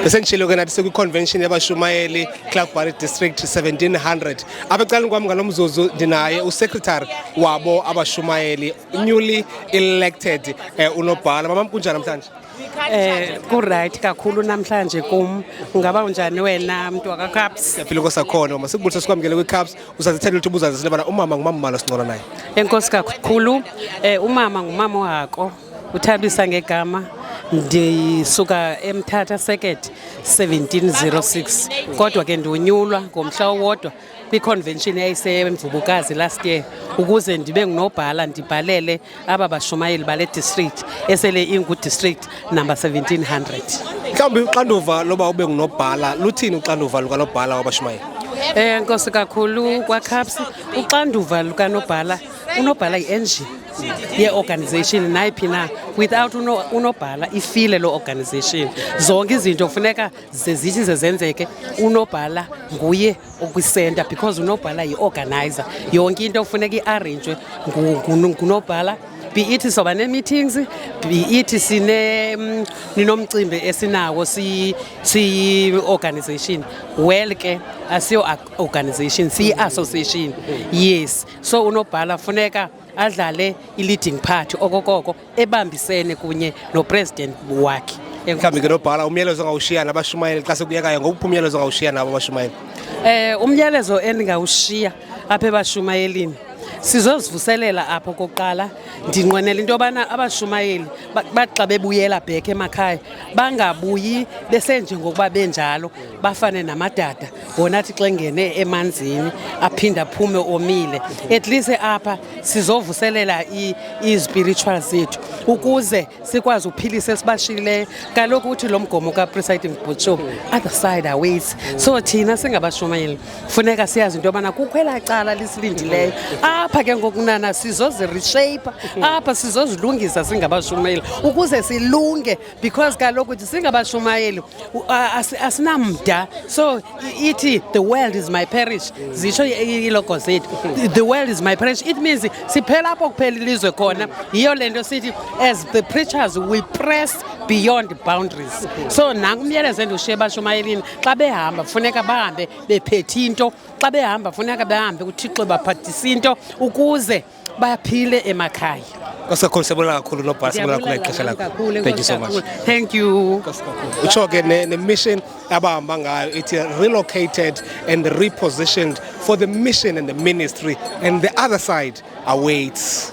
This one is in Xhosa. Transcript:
besendishilo ke nathi sekwiconvention yabashumayeli clarkbury district 1700 apha ecaleni kwam ngalo mzuzu ndinaye usecretary wabo abashumayeli newly elected um unobhala mamam kunjani namhlanje Eh kuright kakhulu namhlanje kum ngaba unjani wena mntu wakaCaps? Siyaphila kosakhona uma sikubulisa sikwamukele kwiCaps usazithanda ukuthi ubuzaze silebana umama ngumama malo sincola naye. Enkosi kakhulu eh umama ngumama ohako Uthabisa ngegama ndisuka eMthatha Circuit 1706 kodwa ke ndiwunyulwa ngomhla owodwa kwiconvention eyayisemvubukazi last year ukuze ndibe ngunobhala ndibhalele aba bashumayeli bale district esele ingudistrict number 1700 mhlawumbi uxanduva loba ube ngunobhala luthini uxanduva lukanobhala wabashumayeli um nkosi kakhulu kwacaps uxanduva lukanobhala unobhala yi-engine yeeorganization nayiphi na without unobhala ifile loo organization zonke izinto kufuneka zezithi zezenzeke unobhala nguye okwisenta because unobhala yi-organizer yonke into kufuneka iarrangwe ngunobhala be it soba nee-meetings be it sine mm, ninomcimbi esinawo siyi-organization well ke asiyo-organization siyi-association yes so unobhala funeka adlale i-leading part okokoko ebambisene kunye nopresident wakhe mhlawumbi ke nobhala umyalezo ongawushiya nabashumayeli xa sekuyekayo ngokuphi umyalezo ongawushiya nabo abashumayeli um eh, umyalezo endingawushiya apha ebashumayelini sizozivuselela apho kokuqala ndinqwenela into yobana abashumayeli baxa bebuyela bhekhe emakhaya bangabuyi besenjengokuba benjalo bafane namadada wona athi xa engene emanzini aphinde aphume omile at least apha sizovuselela izipiritual zethu ukuze sikwazi uphilisa esibashiyileyo kaloku uthi lo mgomo kapresiding butso other side aways so thina singabashumayeli funeka siyazi into yobana kukho elaa cala lisilindileyo apha ke ngokunana sizozireshape apha sizozilungisa singabashumayeli ukuze silunge because kaloku singabashumayeli asinamda so ithi the world is my parish zitsho ilogo zethu the world is my parish it means siphela apho kuphela ilizwe khona yiyo le nto sithi as the preachers we press beyond boundaries so nanku umyalezo endiwushiye ebashumayelini xa behamba funeka bahambe bephethe into xa behamba funeka behambe kuthixo baphathise into ukuze baphile emakhaya kakhulu siyabona kakhulu nobhala siyabona kakhulu ngexesha lakho thank you so much thank you utsho ke ne-mission abahamba ngayo ithi relocated and repositioned for the mission and the ministry and the other side awaits